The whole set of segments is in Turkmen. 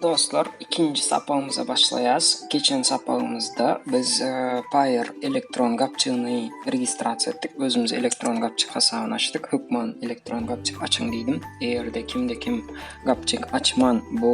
Dostlar, ikinji sapagymyza başlaýas. Geçen sapagymyzda biz Paýer elektron gapjygyny registrasiýa etdik. Özümize elektron gapjyk hasabyny açdyk. Hökman elektron gapjyk açyň diýdim. Eger-de kimde-kim gapjyk açman, bu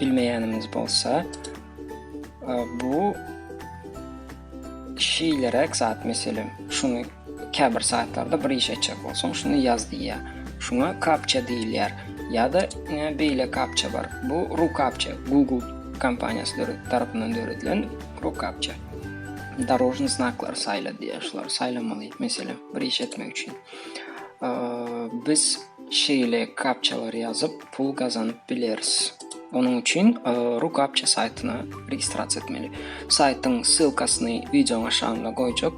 Bilmeýänimiz bolsa, bu şeýleräk zat, meselem, şuny käbir saýtlarda bir iş etjek bolsaň, şuny ýaz diýýär. Şuňa kapça diýilýär. Ýa-da beýle kapça bar. Bu rukapça, Google kompaniýasy tarapyndan döredilen rukapça. Darožny znaklar saýla diýýär. Şulary saýlamaly, meselem, bir iş etmek üçin. Biz Şeýle kapçalary ýazyp pul gazanyp bileris. Onuň üçin RuCaptcha saýtyna registrasiýa etmeli. Saýtyň ssylkasyny wideoň aşagynda goýjak.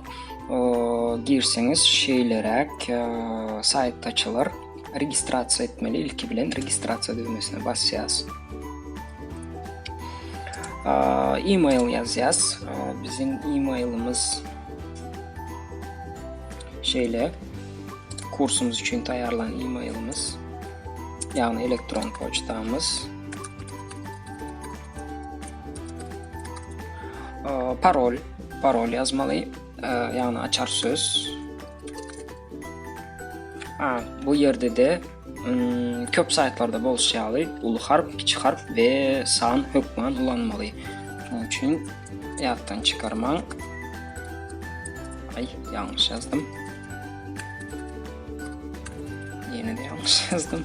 Girseňiz şeýleräk saýt açylar. Registrasiýa etmeli. Ilki bilen registrasiýa düwmesine basýas. E-mail ýazýas. Biziň e-mailimiz Şeýle kursumyz üçin taýýarlan e-mailimiz, ýagny elektron poçtamyz. Parol, parol ýazmaly, ýagny açar söz. Ha, bu ýerde-de Köp saýtlarda bolşy ýaly uly harp, kiçi harp we san hökman ulanmaly. Şonuň üçin ýatdan çykarmaň. Ay, yanlış yazdım. Yine de yanlış yazdım.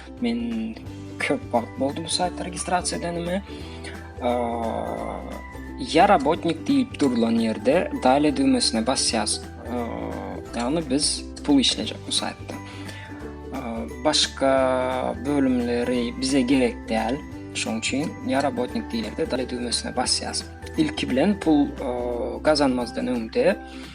Men köp wagt boldy bu saýtda registrasiýa edenime. Ya robotnik diýip durulan ýerde dale düwmesine basýas. Ýagny biz pul işlejek bu saýtda. Başga bölümleri bize gerek däl. Şoň üçin ya robotnik diýilende dale düwmesine basýas. Ilki bilen pul gazanmazdan öňde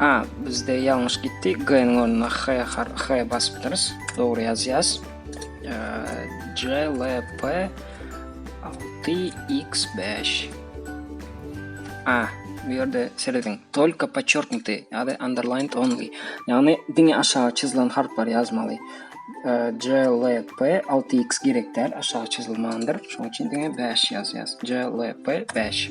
A bizde ýalňyş gitdi. G-niň ornuna H har H basypdyrys. Dogry ýazýas. C L P 6 X 5. A bu ýerde serediň. Tolka podçerknutý ýa-da underlined only. Ýagny diňe aşagy çyzylan harplary ýazmaly. C L P 6 X gerek däl, aşagy çyzylmandyr. Şonuň üçin diňe 5 ýazýas. C L P 5.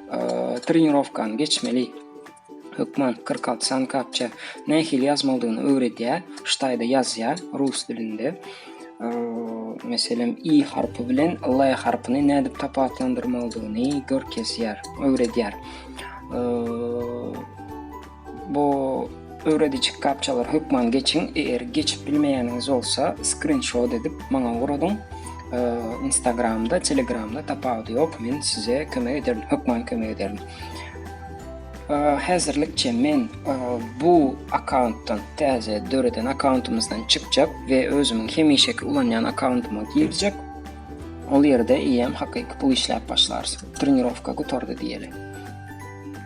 trenirowkany geçmeli. Hökman 46 san kapça nähili ýazmalydygyny öwredýär. Ştaýda ýazýar rus dilinde. Meselem, i harpy bilen l harpyny nädip tapawutlandyrmalydygyny görkezýär, öwredýär. Bu öwrediji kapçalary hökman geçiň. Eger geçip bilmeýäniňiz bolsa, skrinşot edip maňa ugradyn. Instagramda, Telegramda tapawudy ýok. Men size kömek ederin, hökman kömek ederin. Häzirlikçe men bu akkauntdan, täze döreden akkauntumyzdan çykjak we özümiň hemişeki ulanýan akkauntyma girjek. Ol ýerde eýýäm hakyky pul işläp başlarys. Trenirowka gutardy diýeli.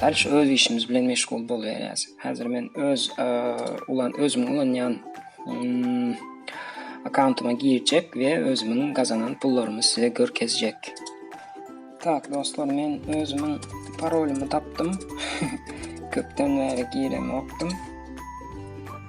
Däl şu öz işimiz bilen meşgul bolýarys. Häzir men öz ulan özüm ulanýan hmm, akkauntyma girjek we özümiň gazanan pullarymy size görkezjek. Tak dostlar men özümiň parolymy tapdym. Köpden bäri giremokdym.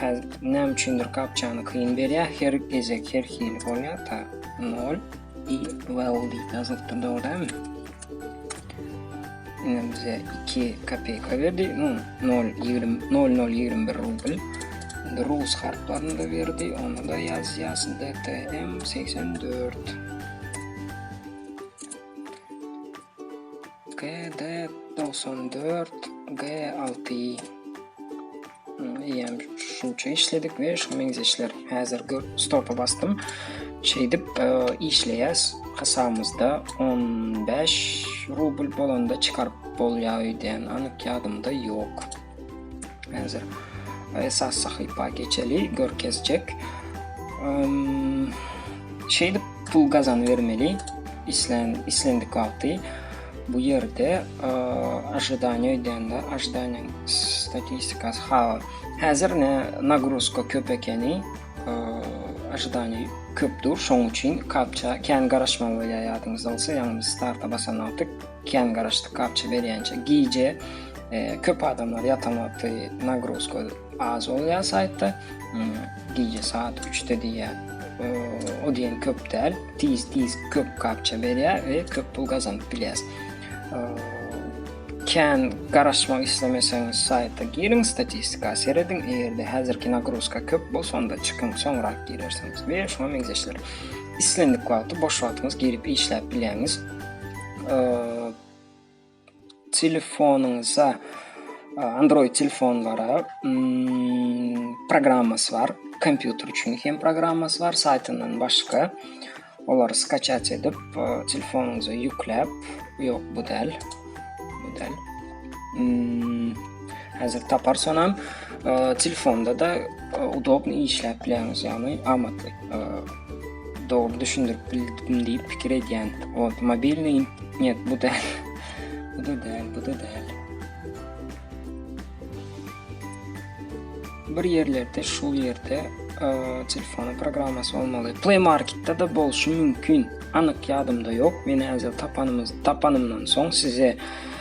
Häzir näme üçindir kapçany kyn berýär. Her gezek her hili bolýar. Ta 0 i well diýip ýazylypdyr dogrudanmy? Indi bize 2 kopeyka berdi. 0.021 rubl. Indi rus harplaryny da berdi. Onu da ýazýas. DTM 84. GD togsan dört G alty Eýem şunça işledik we şu meňzeşler häzir gör stopa bastym. Şeýdip e, işleýäs. Hasabymyzda 15 rubl bolanda çykaryp bolýar diýen anyk ýadymda ýok. Hänzir esas sahypa geçeli görkezjek. Şeýdip pul gazan bermeli islen islendik wagty bu ýerde ažydaniýa öýdende ažydaniýa statistikasy ha häzir ne nagruzka köp ekeni ažydaniýa köpdür şoň üçin kapça kän garaşmaly bolýar ýadyňyzda bolsa ýagny starta basan wagty Kän garaşdyk gapja berýänçä. Gije köp adamlar ýatan wagty nagruzka az bolýar saýtda. Gije saat 3-de diýýär. O diýen köp däl. Tiz-tiz köp gapja berýär we köp pul gazanyp bilýäs. Kän garaşmak islemeseňiz saýta giriň, statistika serediň. Eger-de häzirki nagruzka köp bolsa, onda çykyň, soňrak girersiňiz we şuňa meňzeşler. Islendik wagty boş wagtyňyz girip işläp bilýäňiz. Telefonyňyza Android telefonlara programmasy bar. Kompýuter üçin hem programmasy bar, saýtyndan başga. Olary skaçat edip, telefonyňyza ýükläp, ýok bu däl. Bu däl. Hmm, hazır tapar sonam e, telefonda da e, udobny işläp biläňiz ýagny amatly e, dogry düşündirip bildim diýip pikir edýän ot mobilniý net bu da bu da däl bu da däl bir ýerlerde şu ýerde e, telefonu programmasy bolmaly play marketda da bolşy mümkin anyk ýadymda ýok men häzir tapanymyz tapanymdan soň size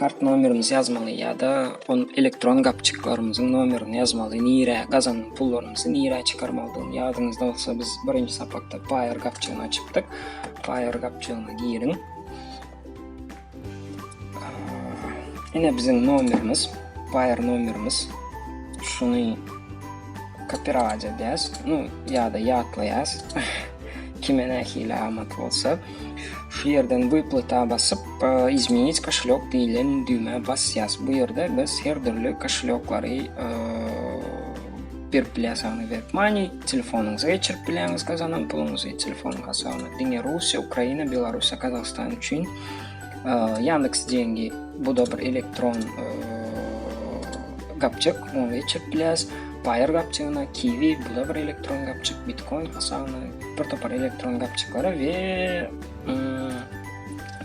kart nomerimizi ýazmaly ýa-da on elektron gapjyklarymyzyň nomerini ýazmaly, nirä gazanan pullarymyzy nirä çykarmalydygyny ýadyňyzda bolsa biz birinji sapakda Payer gapjygyny açypdyk. Payer gapjygyna giriň. Ine biziň nomerimiz, Payer nomerimiz. Şuny kopirawać edýäs, no ýa-da ýatlaýas. Kime nähili amat bolsa. Şu ýerden Wyplata basyp, Izmenit koşelýok diýlen düwmä basýas. Bu ýerde biz her dürli koşelýoklary berip bilýäs, ýagny WebMoney, telefonyňyza geçirip bilýäňiz gazanan puluňyzy, telefonyň hasabyna. Diňe Russiýa, Ukraina, Belarussiýa, Gazagystan üçin Yandex Dengi bu da bir elektron gapjyk, ony geçirip bilýäs. Paýar gapjygyna Kiwi, bu da bir elektron gapjyk, Bitcoin hasabyna bir topar elektron gapçyklary we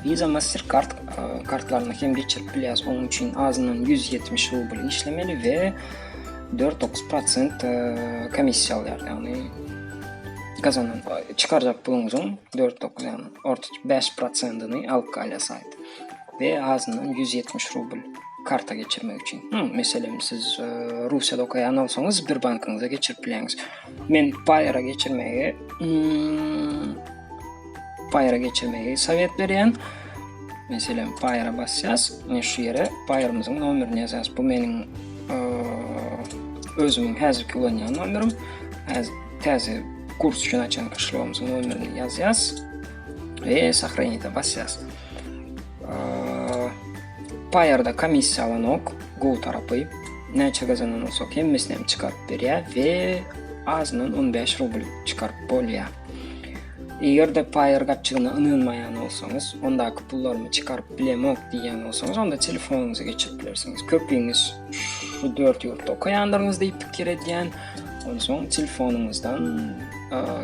Visa Mastercard e, kartlaryny hem geçirip bilýäs. Onuň üçin azyndan 170 rubl işlemeli we 4-9% e, komissiýa alýar. Ýagny gazanan e, çykarjak puluňyzyň 4-9 ýagny orta 5%-ni alyp galýar saýt. We azyndan 170 rubl karta geçirmek üçin. Meselem siz Russiýada okaýan bolsaňyz bir bankyňyza geçirip bilýäňiz. Men Fire geçirmegi hmm, Fire geçirmegi sowet berýän. Meselem Fire basýas. Men şu ýere Fire'myzyň nomerini ýazýas. Bu meniň e, özümiň häzirki ulanýan nomerim. Häzir täze kurs üçin açan işlewimiziň nomerini ýazýas. Ve sahraniyete basýas. Payarda komissiya alanok. Google tarapy. Näçe gazanan olsak hemmesini hem çıkarıp berýär ve azından 15 rubl çıkarıp bolýar. Eger de Payer gapçygyna ynanmaýan bolsaňyz, ondaky pullarymı çıkarıp bilemok diýýän bolsaňyz, onda telefonuňyza geçirip bilersiňiz. Köpüňiz şu 4 ýurtda okaýandyryňyz diýip pikir edýän. Onsoň telefonuňyzdan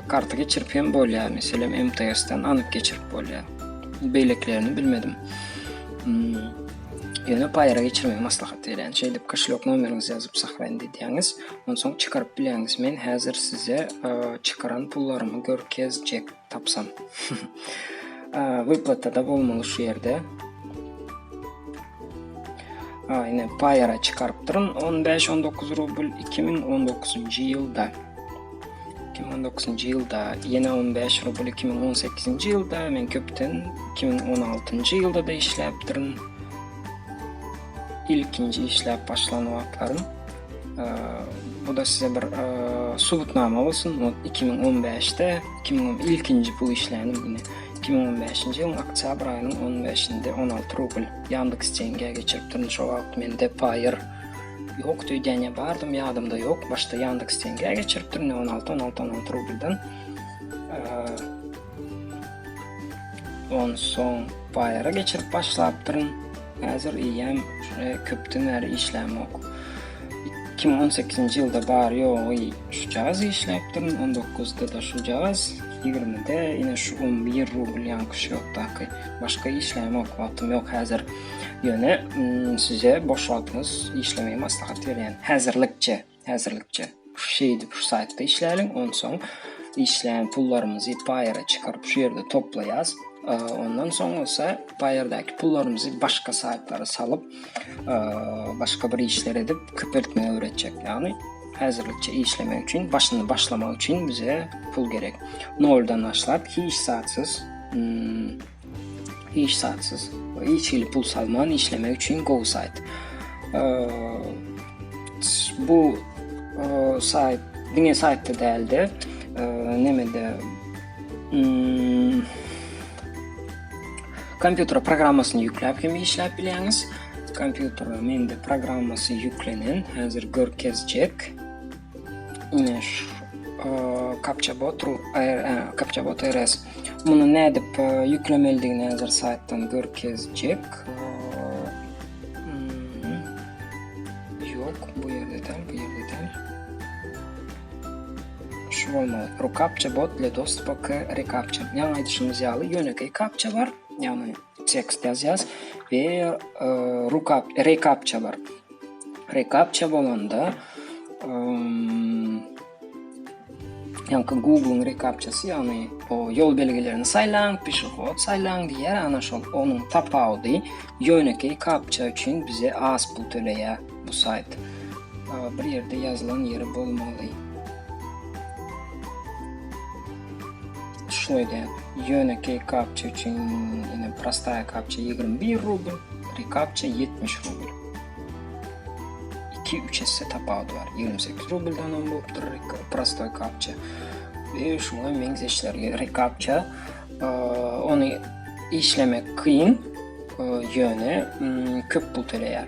karta geçirip hem bolýar. Meselem, MTS-den anyp geçirip bolýar. beýlekilerini bilmedim. Hmm. Ýöne paýara geçirmegi maslahat berýän. Şeýdip kişilik nomeriňizi ýazyp saklaýyn diýýäňiz. Onsoň çykaryp bilýäňiz. Men häzir size e, çykaran pullarymy görkezjek tapsam. E, Wyplatada bolmaly şu ýerde. Ha, ine paýara çykarypdyryn 15-19 rubl 2019-njy ýylda. iki müň on dokuzynjy ýylda ýene on bäş rubl iki müň on sekizinji ýylda men köpden iki müň on altynjy ýylda da işläpdirin ilkinji işläp başlan wagtlarym bu da size bir subutnama bolsun iki müň on bäşde iki müň on ilkinji pul işlänim ýene iki müň on bäşinji ýylyň oktýabr aýynyň on beşinde on alty rubl ýandeks deňge geçiripdirin şo wagt mende paýer Ýokdy öýdýän ýa bardym ýadymda ýok. Başda Yandex Tenge geçiripdim. Ne 16 16 16 rubldan. On soň bayara geçirip başlapdyryn. Häzir iýem şuna köpden bäri işlämok. 2018-nji ýylda bar ýogy şu jagaz işläpdirin. 19-da da şu jagaz, 20-de ýene şu 11 rubl ýankyş ýokdaky. Başga işlämok, wagtym ýok häzir. Ýöne size boş wagtyňyz işlemeýi maslahat berýän. Häzirlikçe, häzirlikçe. Şeýdip şu saýtda işläliň, onsoň işleýän pullarymyzy paýera çykaryp şu ýerde toplaýas. Ondan soň bolsa paýerdäki pullarymyzy başga saýtlara salyp, başga bir işler edip köpeltmegi öwretjek. Ýagny häzirlikçe işlemek üçin, başyny başlamak üçin bize pul gerek. Noldan başlap hiç zatsyz Hiç zatsyz we hiç hili pul salman işlemek üçin gowy sayt. Bu sayt diňe saytda däldi. Nemede hmm, kompýuter programmasyny ýükläp hem işläp bilýäňiz. Kompýuter mende programmasy ýüklenen, häzir görkezjek. Kapça bot kapça bot RS. Muny nädip ýüklemelidigini häzir saýtdan görkezjek. Ýok, bu ýerde däl, bu ýerde däl. Şu bolmaly. Rukapça bot le dostup k rekapça. Ýa aýdyşymyz ýaly ýönekeý kapça bar. Ýagny tekst ýazýas we rukap rekapça bar rekapça bolanda ýaňky google rekapçasy ýagny o ýol belgilerini saýlaň pişehod saýlaň diýýär ana şol onuň tapawudy ýönekeý kapça üçin bize az pul töleýär bu saýt bir ýerde ýazylan ýeri bolmaly Şuny edýän. Ýönekeý kapça üçin ine prostaýa kapça 21 rubl, rekapça 70 rubl. 2-3 esse tapawudy bar. 28 rubldan hem bolupdyr prostoý kapça. Ve şuna meňzeşlerge rekapça onu işlemek kyn ýöne köp pul töleýär.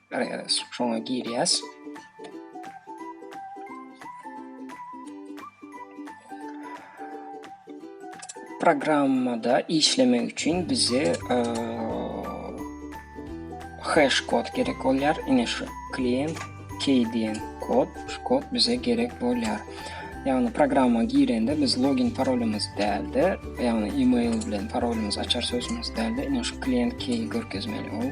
Şoňa girýäs. Programmada işlemek üçin bize e, hash kod gerek bolýar. Ine şu klient key diýen kod, şu kod bize gerek bolýar. Ýagny programma girende biz login parolymyz däldi. Ýagny e-mail bilen parolymyz açar sözümüz däldi. Ine şu klient key görkezmeli ol.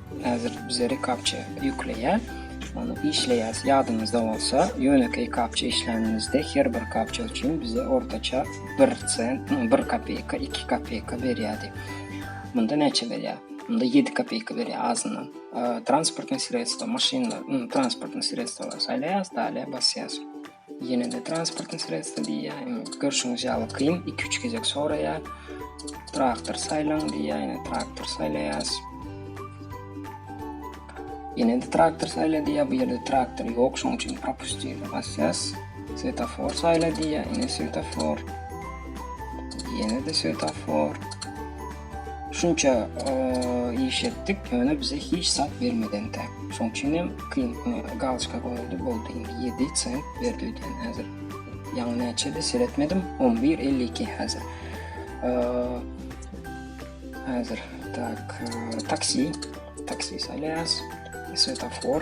Häzir bize rekaptcha ýükleýär. Ony işleýäs. Ýadyňyzda bolsa, ýönekeý kaptcha işlänimizde her bir kaptcha üçin bize ortaça bir sent, bir kopeýka, iki kopeýka berýärdi. Munda näçe berýär? Munda ýedi kopeýka berýär azyndan. Transportnyý sredstwo, maşynlar, transportnyý sredstwolar saýlaýas, dalýa basýas. Ýene-de transportny sredstwo diýýär. Görşüňiz ýaly kyn, 2-3 gezek soraýar. Traktor saýlaň diýýär, ýene traktor saýlaýas. Ýene-de traktor saýla diýýär, bu ýerde traktor ýok, şoň üçin propustýny basýas. Svetofor saýla diýýär, ýene svetofor. Ýene-de svetofor. Şunça iş etdik, ýöne bize hiç zat bermeden tä. Şoň üçin hem kyn galçka goýuldy, boldy indi 7 sent berdi diýen häzir. Ýaňy näçedi seretmedim, 11.52 häzir. Häzir tak taksi, taksi salýas, svetofor.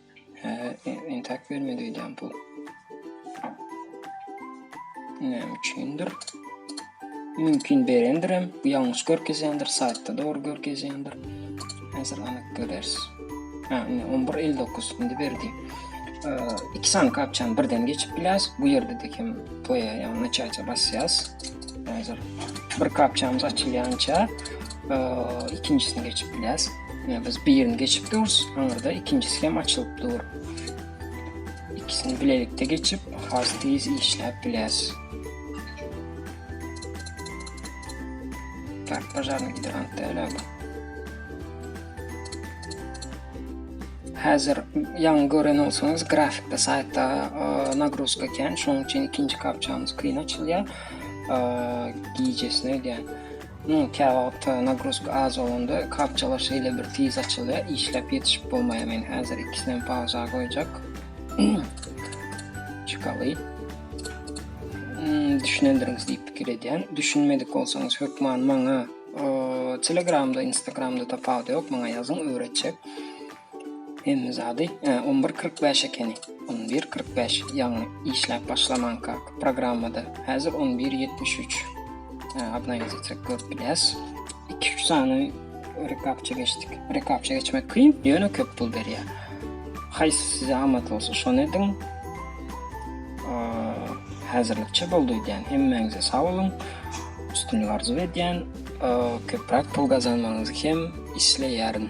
Entak bermedi öýdýän pul. Näme üçindir? Mümkin berendirem, ýalňyş görkezýändir, saýtda dogry görkezýändir. Häzir anyk görers. Ha, 11.59 indi berdi. İki sany kapçany birden geçip biläs. Bu ýerde de kim toýa ýa naçaýça basýas. Häzir bir kapçamyz açylýança ikinjisini geçip biläs. Ýa biz birini geçip durus, aňyrda ikinjisi hem açylyp dur. İkisini bilelikde geçip, has tez işläp biläs. Tak, bajarny gidrant däl bu. Hazır yan gören olsanız grafikde saytta e, nagruzka eken, şonuň üçin ikinci kapçamyz kyn açylýar. E, gecesine gel. Näme käwagt wagtda nagruzka az bolanda kapçalar şeýle bir tiz açylýar işläp ýetişip bolmaýar men häzir ikisinem pauza goýjak çykaly düşünendirňiz diýip pikir edýän düşünmedik bolsaňyz hökman maňa telegramda instagramda tapawudy ýok maňa ýazyň öwretjek Hemme zady e, on bir kyrk bäş ekeni. On bir kyrk bäş, ýagny işläp başlamanka programmada. Häzir on bir ýetmiş üç. E, Obnowit etsek görüp bilýäs. Iki üç sany rekapça geçdik. Rekapça geçmek kyn, ýöne köp pul berýär. Haýsy size amat bolsa şony ediň. E, Häzirlikçe boldy diýen. Hemmäňize sag boluň. Üstünlik arzuw edýän. Köpräk pul gazanmagyňyzy hem isleýärin.